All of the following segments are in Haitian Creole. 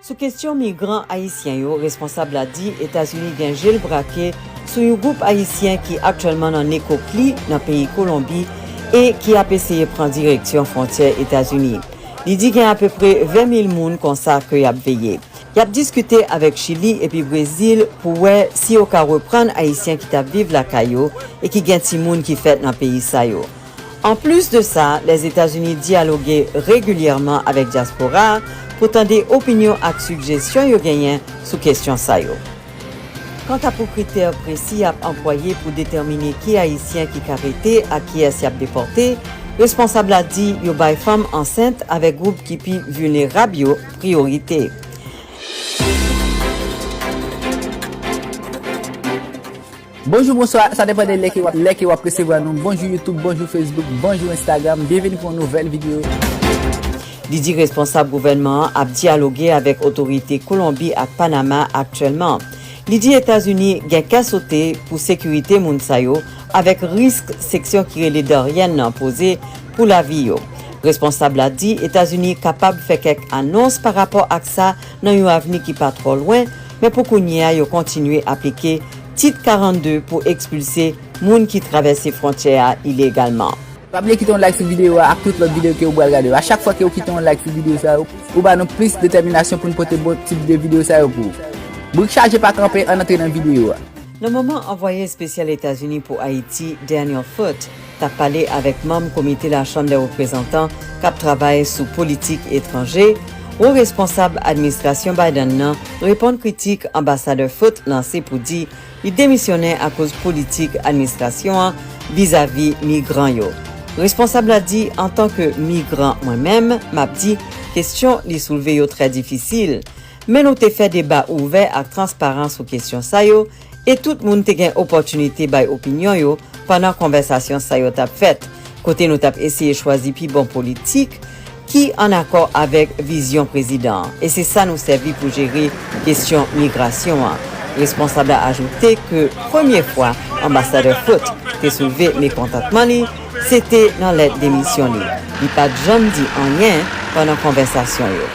Sou kestyon migran ayisyen yo, responsab la di Etazini gen je l brake sou yon gwoup ayisyen ki aktyèlman nan Nekokli, nan peyi Kolonbi, e ki ap eseye pran direksyon fwontyè Etazini. Li di gen apeprè 20 mil moun konsa ke y ap veye. Y ap diskite avèk Chili epi Brezil pou wè si yo ka reprann ayisyen ki t ap viv lakay yo e ki gen timoun ki fèt nan peyi sa yo. Anplis de sa, Lèzetazini dyaloge regilyèman avèk dyaspora a pou tande opinyon ak sigjesyon yo genyen sou kesyon sa yo. Kanta pou kritè presi y ap anplwaye pou detèmine ki Ayisyen ki ka rete ak kiyès y ap depòte, responsab la di yo bay fanm ansent avèk gwoup ki pi vilnerab yo priyorite. Bonjou bonswa sa depan de lè ke wap resevwa nou bonjou youtube bonjou facebook bonjou instagram byenveni pou yon nouvèl video. Li di responsab gouvènman an ap dyaloge avèk otorite Kolonbi ak Panama aktyèlman. Li di Etazini gen kè sote pou sekirite moun sa yo avèk risk seksyon ki rele Darian nan poze pou lavi yo. Responsab la di Etazini kapab fè kèk anons pa rapò ak sa nan yon avni ki pa twò lwen, men pou kounye a yo kontinye aplike Tit 42 pou ekspilse moun ki travèse fwontyè a ilegalman. Pa bliye kite yon like sou videyo a ak tout lòt videyo ke ou bwal gade yo. A chak fwa ke ou kite yon like sou videyo sa yo, ou ba nou plis detèminasyon pou nou pote bon tip de videyo sa yo pou ou. Brik chaje pa kanpe, ann antre nan videyo a. Nan moman anvwaye espesyal Etazini pou Ayiti, Daniel Foote, t ap pale avèk manm komite Lachanm dè Reprezantan k ap travay sou politik etranje, wo responsab administrasyon Biden nan reponn kritik Anbasadè Foote lanse pou di li demisyonnen akoz politik administrasyon an vizavi migran yo. Responsab la di, Antan ke migran mwen menm, m ap di kesyon li soulve yo trè difisil. Men nou te fè deba ouvè ak transparan sou kesyon sa yo, e tout moun te gen opòtinite bay opinyon yo pandan konvèsasyon sa yo t ap fèt, kote nou t ap eseye chwazi pi bon politik ki an akò avèk vizyon prezidan an, e se sa nou sèvi pou jere kesyon migrasyon an. Responsab la ajoute ke premye fwa Anbasadè Foote te soulve mekontantman li, se te nan lèt demisyon li. Li pa t janm di anyen pandan konvèsasyon yo.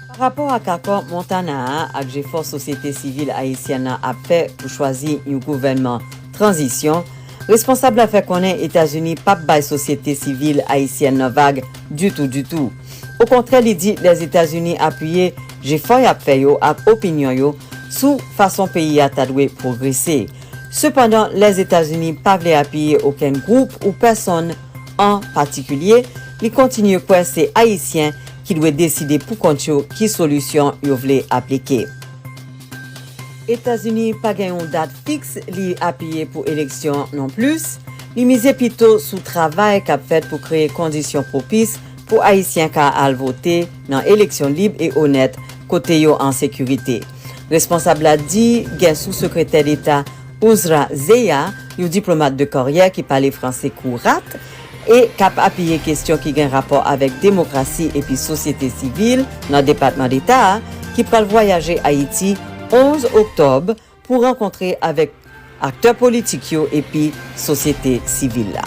Pa rapò ak akò Montana a ak jefò sosyete sivil ayisyèn nan ap fè pou chwazi yon gouvènman tranzisyon, responsab la fè konnen Etazini pap bay sosyete sivil ayisyèn nan vag ditou ditou. Okontrè li di Lèzetazini apiye jefò yap fè yo ak opinyon yo sou fason peyi a ta dwe pwogrese. Sepandan Lèzetazini pa vle apiye okenn gwoup ou pèsonn an patikilye, li kontinye kwè se Ayisyen ki dwe deside pou kont yo ki solisyon yo vle aplike. Etazini pa gen yon dat fiks li apiye pou eleksyon non plis, li mize pito sou travay k ap fèt pou kreye kondisyon pwopis pou Ayisyen ka al vote nan eleksyon lib e onèt kote yo an sekirite. Responsab la di gen sou Sekretè Deta Uzra Zeya, yon diplomat de karyè ki pale franse kourat, e k ap apiye kesyon ki gen rapò avèk demokrasi epi sosyete sivil nan Depatman Deta a ki pral vwayaje Ayiti 11 oktòb pou rankontre avèk aktè politik yo epi sosyete sivil la.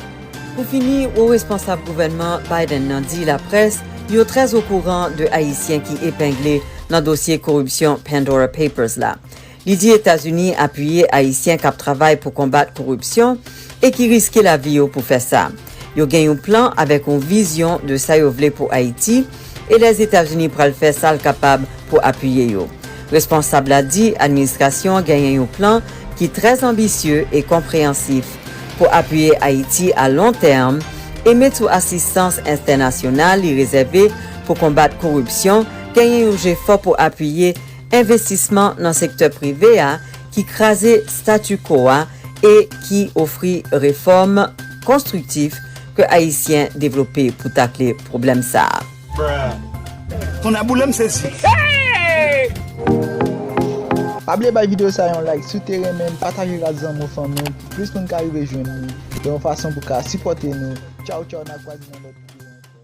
Pou fini, wo responsab gouvènman Biden nan di laprès yo trè okouran de Ayisyen ki epengle nan dosye koripsyon Pandora Papers la. Li di Etazini apiye Ayisyen k ap travay pou konbat koripsyon e ki riske lavi yo pou fè sa. Yo gen yon plan avèk yon vizyon de sa yo vle pou Ayiti e Lèzetazini pral fè sa l kapab pou apiye yo. Responsab la di administrasyon an genyen yon plan ki trè anbisye e konpreyansif pou apiye Ayiti a lon tèm e met sou asistans enstènasyonal li rezève pou konbat koripsyon, genyen yon jefò pou apiye Envestisman nan sektè prive a ki kraze statu quo a e ki ofri refòm konstriktif ke Ayisyen devlope pou takle pwoblèm sa a. Tonnèboulem sezi hey! Pa bliye bay video sa yon like siw te renmenl pataje l ak zanmiw fanmiw pou plis moun ka rive jwenn li yon fason pou ka sipòte nou tchawtchaw na kwaze nan lòt video ankò.